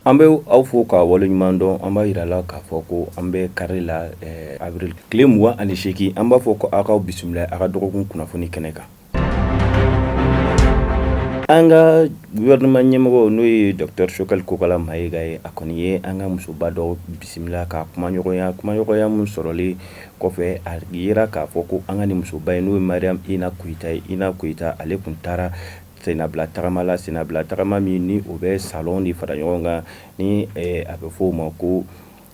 An bɛ aw fo ka waleɲuman dɔn an b'a jira la k'a fɔ ko an bɛ kari la avril tile mugan ani segin an b'a fɔ ko aw k'aw bisimila a ka dɔgɔkun kunnafoni kɛnɛ kan An ka gouvernement ɲɛmɔgɔ n'o ye docteur Choguel Kokala Maïga ye, a kɔni ye an ka musoba dɔ bisimila ka kumaɲɔgɔnya, kumaɲɔgɔnya min sɔrɔlen kɔfɛ, a jira k'a fɔ ko an ka nin musoba in n'o ye Mariam Ina Koyita ye, Ina Koyita ale tun taara senabila tagama la, senabila tagama min ni o bɛ salon de fara ɲɔgɔn kan ni a bɛ fɔ o ma ko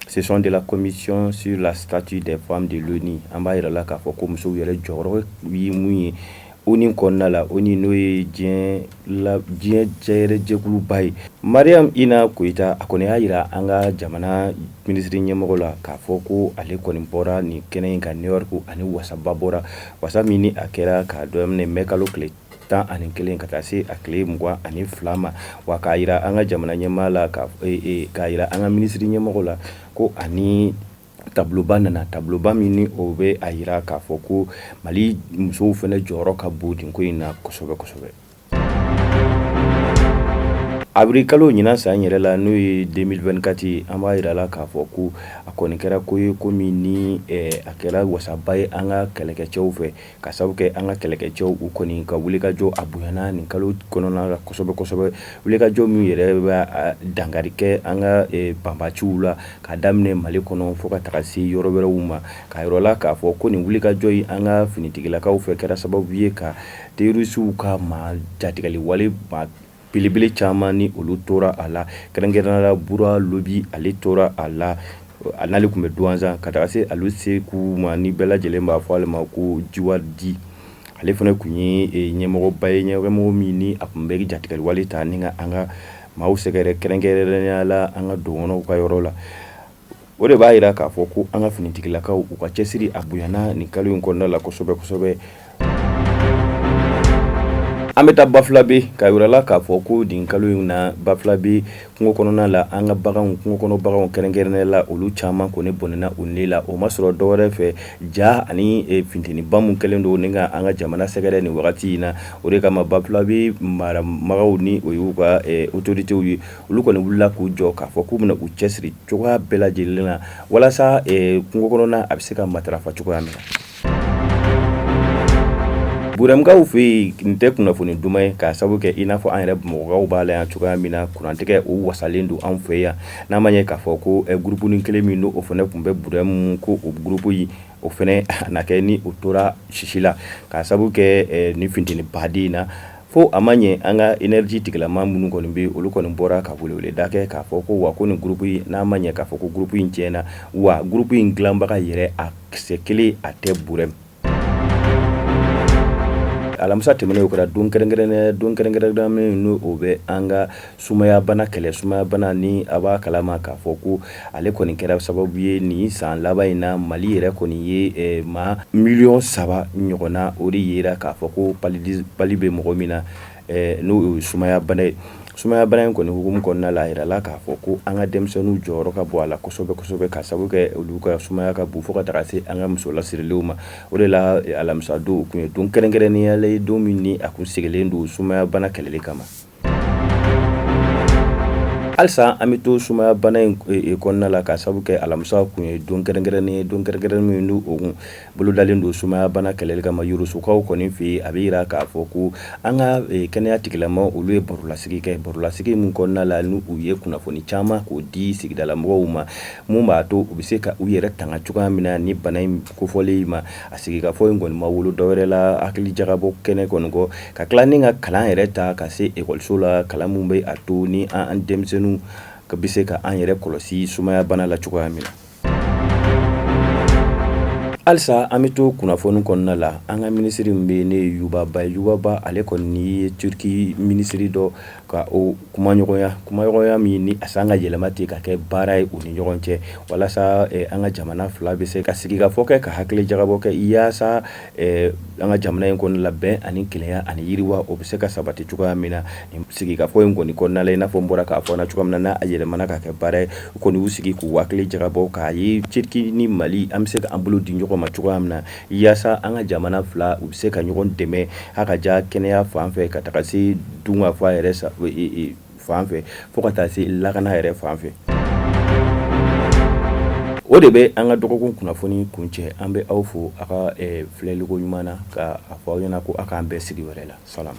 session de la commission sur la statut des femmes de l'ONU an b'a jira la k'a fɔ ko musow yɛrɛ jɔyɔrɔ ye mun ye ONU kɔnɔna la ONU n'o ye diɲɛ la diɲɛ jɛ yɛrɛ jɛkuluba ye Mariam Ina Koyita a kɔni y'a jira an ka jamana minisiri ɲɛmɔgɔ la k'a fɔ ko ale kɔni bɔra nin kɛnɛ in kan New York ani wasaba bɔra wasa min ni a kɛra k'a daminɛ mai kalo tile tan ani kelen ka taa se a tile mugan ani fila ma wa k'a jira an ka jamana ɲɛmaa la k'a jira an ka minisiri ɲɛmɔgɔ la ko ani tabiloba nana tabiloba min ni o bɛ a jira k'a fɔ ko Mali musow fana jɔyɔrɔ ka bon nin ko in na kosɛbɛ kosɛbɛ avril kalo ɲinan san yɛrɛ la n'o ye 2024 an b'a jira la k'a fɔ ko a kɔni kɛra ko ye ko min ni a kɛra wasaba ye an ka kɛlɛkɛcɛw fɛ ka sabu kɛ an ka kɛlɛkɛcɛw u kɔni ka wulikajɔ a bonyana nin kalo kɔnɔna la kosɛbɛ kosɛbɛ wulikajɔ min yɛrɛ bɛ dankari kɛ an ka banbaciw la ka daminɛ Mali kɔnɔ fo ka taga se yɔrɔ wɛrɛw ma k'a jira la k'a fɔ ko nin wulikajɔ in an ka finitigilakaw fɛ kɛra sababu ye ka terorisiw ka maa jatigɛli wale Belebele caman ni olu tora a la kɛrɛnkɛrɛnnenya la Bura Lobi ale tora a la, a n'ale tun bɛ Douentza ka taga se Alu Seku ma ni bɛɛ lajɛlen b'a fɔ ale ma ko Jiwardi, ale fana tun ye ɲɛmɔgɔba ye, ɲɛmɔgɔ min ni a tun bɛ jatigɛliwale ta ni ka an ka maaw sɛgɛrɛ kɛrɛnkɛrɛnnenya la an ka dɔgɔnɔw ka yɔrɔ la. O de b'a jira k'a fɔ ko an ka finitigilakaw u ka cɛsiri a bonyana nin kalo in kɔnɔna la kosɛbɛ kosɛbɛ an bɛ taa Bafulabe k'a jira la k'a fɔ ko nin kalo in na Bafulabe kungo kɔnɔna la an ka bagan kungo kɔnɔ baganw kɛrɛnkɛrɛnnenya la olu caman kɔni bɔnɛna u ni la o ma sɔrɔ dɔwɛrɛ fɛ ja ani funteniba minnu kɛlen don ni ka an ka jamana sɛgɛrɛ nin wagati in na o de kama Bafulabe marabagaw ni o y'u ka autoritéw ye olu kɔni wulila k'u jɔ k'a fɔ k'u bɛna u cɛsiri cogoya bɛɛ lajɛlen na walasa kungo kɔnɔna a bɛ se ka matarafa cogoya min na burɛmkaw fɛ yen nin tɛ kunnafoni duman ye ka sababu kɛ i n'a fɔ an yɛrɛ bamakɔkaw b'a la yan cogoya min na kurantigɛ o wasalen don an fɛ yan n'a ma ɲɛ k'a fɔ ko groupe kelen min don o fana tun bɛ burɛm ko o groupe in o fana na kɛ ni o tora sisi la ka sababu kɛ ni funteni baden in na Fo a ma ɲɛ an ka energie tigilama minnu kɔni bɛ yen, olu kɔni bɔra ka weleweleda kɛ k'a fɔ ko wa ko nin groupe in n'a ma ɲɛ k'a fɔ ko groupe in cɛnna wa groupe in dilanbaga yɛrɛ a kisɛ kelen a tɛ burɛm. Alamisa tɛmɛnen o kɛra don kɛrɛnkɛrɛnnenya ye don kɛrɛnkɛrɛnnenya min n'o bɛ an ka sumayabana kɛlɛ sumayabana ni a b'a kalama k'a fɔ ko ale kɔni kɛra sababu ye nin san laban in na mali yɛrɛ kɔni ye eh, maa miliyɔn saba ɲɔgɔnna o de yera k'a fɔ ko palu bɛ mɔgɔ min na eh, n'o ye sumayabana ye sumaya bana in kɔni hukumu kɔnɔna la a yirala k'a fɔ ko an ka denmisɛnninw jɔyɔrɔ ka bon a la kosɛbɛ kosɛbɛ ka sabu kɛ olu ka sumaya ka bon fo ka taga se an ka muso lasirilenw ma o de la alamisa don o kun ye don kɛrɛnkɛrɛnnenya la ye don min ni a kun sigilen don sumaya bana kɛlɛli kama Halisa an bɛ to sumaya bana in kɔnɔna la ka sabu kɛ alamisa kun ye don kɛrɛnkɛrɛnnen ye don kɛrɛnkɛrɛn min n'o kun bolodalen don sumayabana kɛlɛli kama yorosokaw kɔni fɛ yen a bɛ yira k'a fɔ ko an ka kɛnɛya tigilama olu ye barolasigi kɛ barolasigi min kɔnɔna la n'u ye kunnafoni caman k'o di sigidala mɔgɔw ma minnu b'a to u bɛ se ka u yɛrɛ tanga cogoya min na nin bana in kofɔlen ma A sigikafɔ in kɔni ma wolo dɔwɛrɛ la hakili jagabɔ kɛnɛ kɔni kɔ ka tila ni ka kalan yɛrɛ ta ka se ekɔliso la kalan min bɛ a to ni an denmisɛnninw ka bɛ se ka an yɛrɛ kɔlɔsi sumayabana la cogoya min na halisa an bɛ to kunnafoni kɔnɔna la an ka minisiri min bɛ yen yuba ba yuba ba ale kɔni ye turki minisiri dɔ ka o kumaɲɔgɔnya kumaɲɔgɔnya min ni a sinna ka yɛlɛma ten ka kɛ baara ye u ni ɲɔgɔn cɛ walasa an ka jamana fila bɛ se ka sigikafɔ kɛ ka hakili jagabɔ kɛ yaasa an ka jamana in kɔnɔna la bɛn ani kelenya ani yiriwa o bɛ se ka sabati cogoya min na sigikafɔ in kɔni kɔnɔna la i n'a fɔ n bɔra k'a fɔ cogoya min na a yɛlɛmana ka kɛ baara ye kɔni y'u sigi k'u hakili jagabɔ k'a ye turki ni mali an bɛ se k'an bolo di ɲɔgɔn ma cogoya min na Yaasa an ka jamana fila u bɛ se ka ɲɔgɔn dɛmɛ ha k'a ta kɛnɛya fan fɛ ka taga se dunkafa yɛrɛ fan fɛ fo ka taa se lakana yɛrɛ fan fɛ o de bɛ an ka dɔgɔkun kunnafoni kuncɛ an bɛ aw fo aw ka filɛliko ɲuman na k'a fɔ aw ɲɛ na ko aw k'an bɛn sigi wɛrɛ la sa